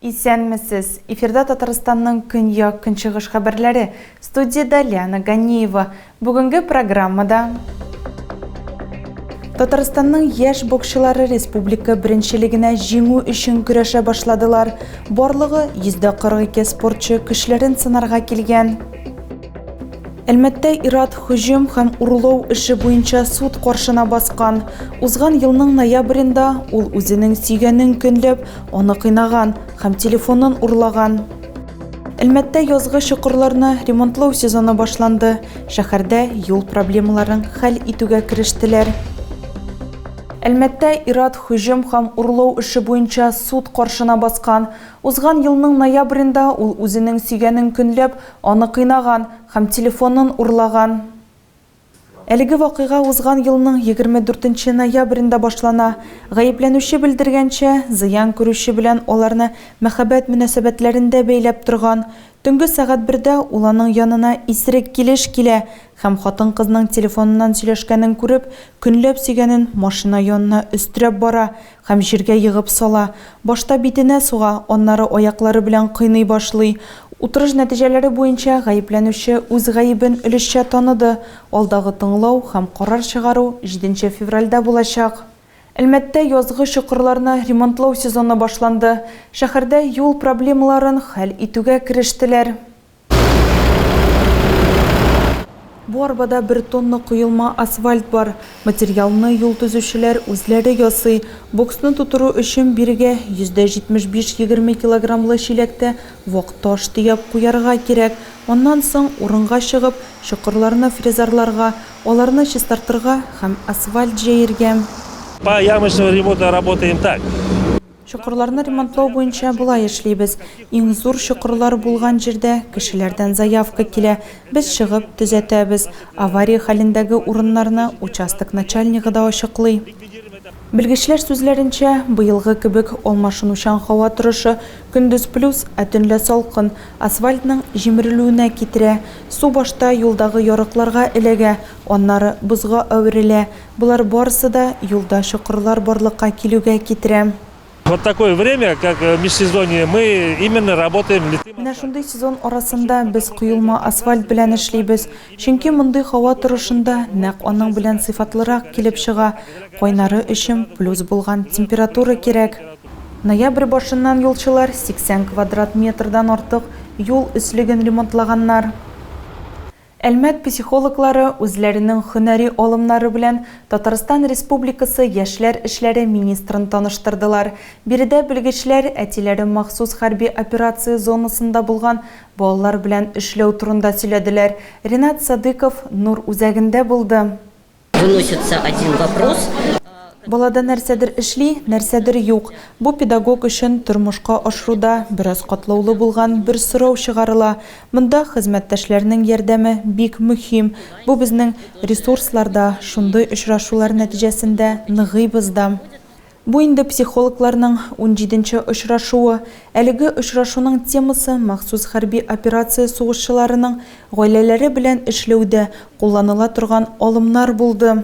Исәнмесез! Эфирда Татарстанның көньяк-көнчыгыш хәбәрләре. Студиядә Лиана Ганиева. Бүгенге программада Татарстанның яшь боксчылары республика беренчелегенә җиңү өчен көрәшә башладылар. Барлыгы 142 спортчы көчләрен сынарга килгән. Әлмәттә ират һөҗүм һәм урлау эше буенча суд каршына баскан. Узган елның ноябрендә ул үзенең сөйгәнен көнләп, аны кыйнаган һәм телефонын урлаган. Әлмәттә язгы чокырларны ремонтлау сезоны башланды. Шәһәрдә юл проблемаларын хәл итүгә керештеләр. Әлмәттә ират һөҗүм һәм урлау эше буенча суд каршына баскан. Узган елның ноябрендә ул үзенең сөйгәнен көнләп, аны кыйнаган һәм телефонын урлаган. Әлеге вакыйга узган елның егерме дүртенче ноябрендә башлана. Гаепләнүче белдергәнчә, зыян күрүче белән аларны мәхәббәт мөнәсәбәтләрендә бәйләп торган. Төнге сәгать бердә ул аның янына исерек килеш килә һәм, хатын-кызның телефоныннан сөйләшкәнен күреп, көнләп сөйгәнен машина янына өстерәп бара, Һәм җиргә егып сала. Башта битенә суга, аннары аяклары белән кыйный башлый. Утырыш нәтиҗәләре буенча гаепләнүче үз гаебен өлешчә таныды. Алдагы тыңлау һәм карар чыгару җиденче февральдә булачак. Әлмәттә язгы чокырларны ремонтлау сезоны башланды. Шәһәрдә юл проблемаларын хәл итүгә керештеләр. Бу арбада бер тонна коелма асфальт бар. Материалны юл төзүчеләр үзләре ясый. Боксны тутыру өчен бирегә %75 егерме килограммлы чиләктә вак таш төяп куярга кирәк. Аннан соң урынга чыгып, чокырларны фрезарларга, аларны чистартырга һәм асфальт җәергә. По ямочному ремонту работаем так. Чокырларны ремонтлау буенча болай эшлибез, иң зур чокырлар булган җирдә кешеләрдән заявка килә, без чыгып, төзәтәбез. Авария хәлендәге урыннарны участок начальнигы да ачыклый. Белгечләр сүзләренчә, быелгы кебек алмашынучан һава торышы, көндез плюс, ә төнлә салкын, асфальтның җимерелүенә китерә. Су башта юлдагы ярыкларга эләгә, аннары бозга әверелә. Болар барысы да юлда чокырлар барлыкка килүгә китерә. Вот такое время, как межсезонье, мы именно работаем литым асфальтом. Менә шундый сезон арасында без коелма асфальт белән эшлибез, чөнки мондый һава торышында нәкъ аның белән сыйфатлырак килеп чыга, кайнары өчен плюс булган температура кирәк. Ноябрь башыннан юлчылар 80 квадрат метрдан артык юл өслеген ремонтлаганнар. Әлмәт психологлары үзләренең һөнәри алымнары белән Татарстан Республикасы Яшьләр эшләре министрын таныштырдылар. Биредә белгечләр әтиләре махсус хәрби операция зонасында булган балалар белән эшләү турында сөйләделәр. Ренат Садыйков Нур үзәгендә булды. Выносится один вопрос. Балада нәрсәдер эшли, нәрсәдер юк. Бу педагог өчен тормышка ашыруда бераз катлаулы булган бер сорау чыгарыла. Монда хезмәттәшләрнең ярдәме бик мөһим. Бу безнең ресурслар да, шундый очрашулар нәтиҗәсендә ныгыйбыз да. Бу инде психологларның унҗиденче очрашуы. Әлеге очрашуның темасы, махсус хәрби операция сугышчыларының гаиләләре белән эшләүдә кулланыла торган алымнар булды.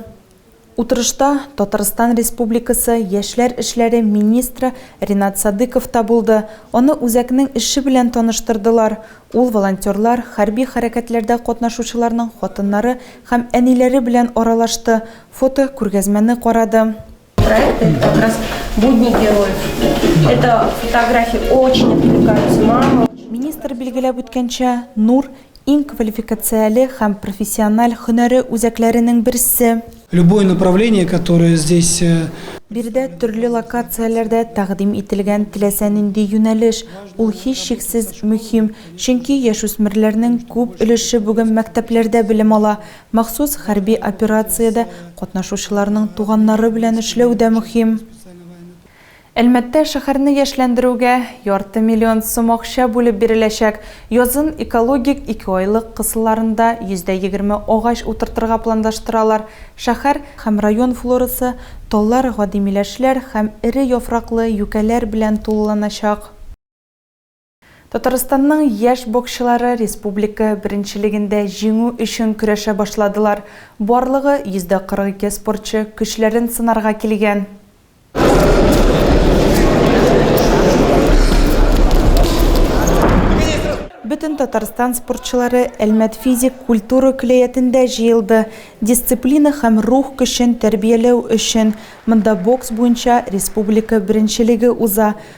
Утырышта Татарстан Республикасы яшьләр эшләре министры Ринат Садыйков та булды. Аны үзәкнең эше белән таныштырдылар. Ул волонтерлар, хәрби хәрәкәтләрдә катнашучыларның хатыннары һәм әниләре белән аралашты, фотокүргәзмәне карады. Проект это как раз будни героев. Это фотографии очень отвлекаются маму. Министр билгеләп үткәнчә, Нур иң квалификацияле һәм профессиональ һөнәре үзәкләренең берсе. Любое направление, которое здесь э, Биредә төрле локацияләрдә тәкъдим ителгән теләсә нинди юнәлеш, ул һичшиксез мөһим, чөнки яшүсмерләрнең күп өлеше бүген мәктәпләрдә белем ала, Махсус хәрби операциядә катнашучыларның туганнары белән эшләү дә мөһим. Әлмәттә шәһәрне яшьләндерүгә ярты миллион сум акча бүлеп биреләчәк. Язын экологик икеайлык кысаларында 120 агач утыртырга планлаштыралар. Шәһәр һәм район флорасы таллар, гади миләшләр һәм эре яфраклы юкәләр белән тулыланачак. Татарстанның яшь боксчылары республика беренчелегендә җиңү өчен көрәшә башладылар. Барлыгы 142 спортчы көчләрен сынарга килгән. Бөтен Татарстан спортчылары Әлмәт физик культура көләятендә җыелды, дисциплина һәм рух көчен тәрбияләү өчен. Монда бокс буенча республика беренчелеге уза.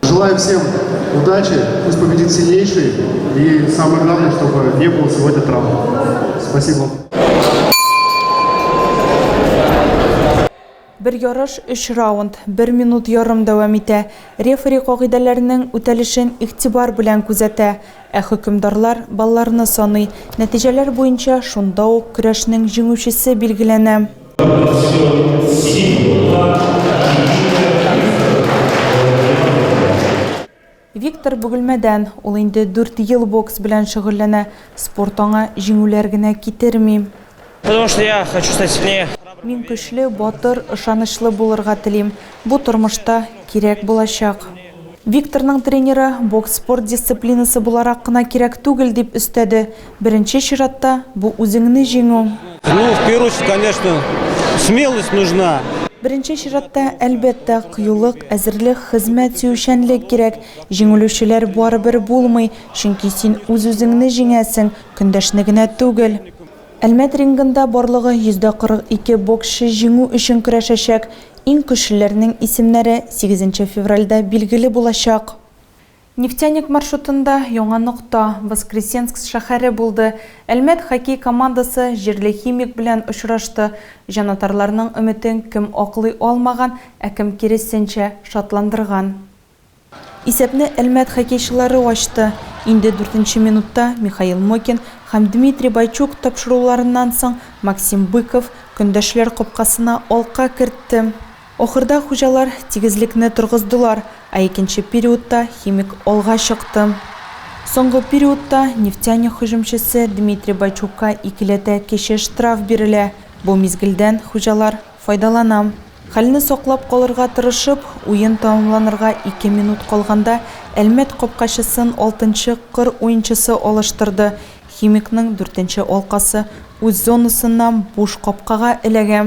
Желаю всем удачи, пусть победит сильнейший, и самое главное, чтобы не было сегодня травм. Спасибо. Бер ярыш 3 раунд, 1 минут ярым дәвам итә. Рефери кагыйдәләренең үтәлешен игътибар белән күзәтә, ә хөкемдарлар балларны саный. Нәтиҗәләр буенча шунда ук көрәшнең җиңүчесе билгеләнә. Виктор Бөгелмәдән. Ул инде дүрт ел бокс белән шөгыльләнә. Спорт аңа җиңүләр генә китерми. Потому что я хочу стать сильнее. Мин көчле, батыр, ышанычлы булырга телим. Бу тормышта кирәк булачак. Викторның тренеры, бокс спорт дисциплинасы буларак кына кирәк түгел, дип өстәде. Беренче чиратта, бу үзеңне җиңү. Ну, в первую очередь, конечно, смелость нужна. Беренче чиратта, әлбәттә, кыюлык, әзерлек, хезмәт сөючәнлек кирәк. Җиңелүчеләр барыбер булмый, чөнки син үз-үзеңне җиңәсең, көндәшне генә түгел. Әлмәт рингында барлыгы 142 боксчы җиңү өчен көрәшәчәк. Иң көчлеләрнең исемнәре сигезенче февральдә билгеле булачак. Нефтяник маршрутында яңа нокта, Воскресенск шәһәре булды. Әлмәт хоккей командасы җирле Химик белән очрашты. Җанатарларның өметен кем аклый алмаган, ә кем киресенчә, шатландырган. Исәпне Әлмәт хоккейчылары ачты. Инде дүртенче минутта Михаил Мокин һәм Дмитрий Бойчук тапшыруларыннан соң Максим Быков көндәшләр капкасына алка кертте. Ахырда хуҗалар тигезлекне торгыздылар, ә икенче периодта химик алга чыкты. Соңгы периодта Нефтяник һөҗүмчесе Дмитрий Бойчукка икеләтә кече штраф бирелә. Бу мизгелдән хуҗалар файдалана. Хәлне саклап калырга тырышып, уен тәмамланырга ике минут калганда Әлмәт капкачысын алтынчы кыр уенчысы алыштырды, Химикның дүртенче алкасы үз зонасыннан буш капкага эләгә.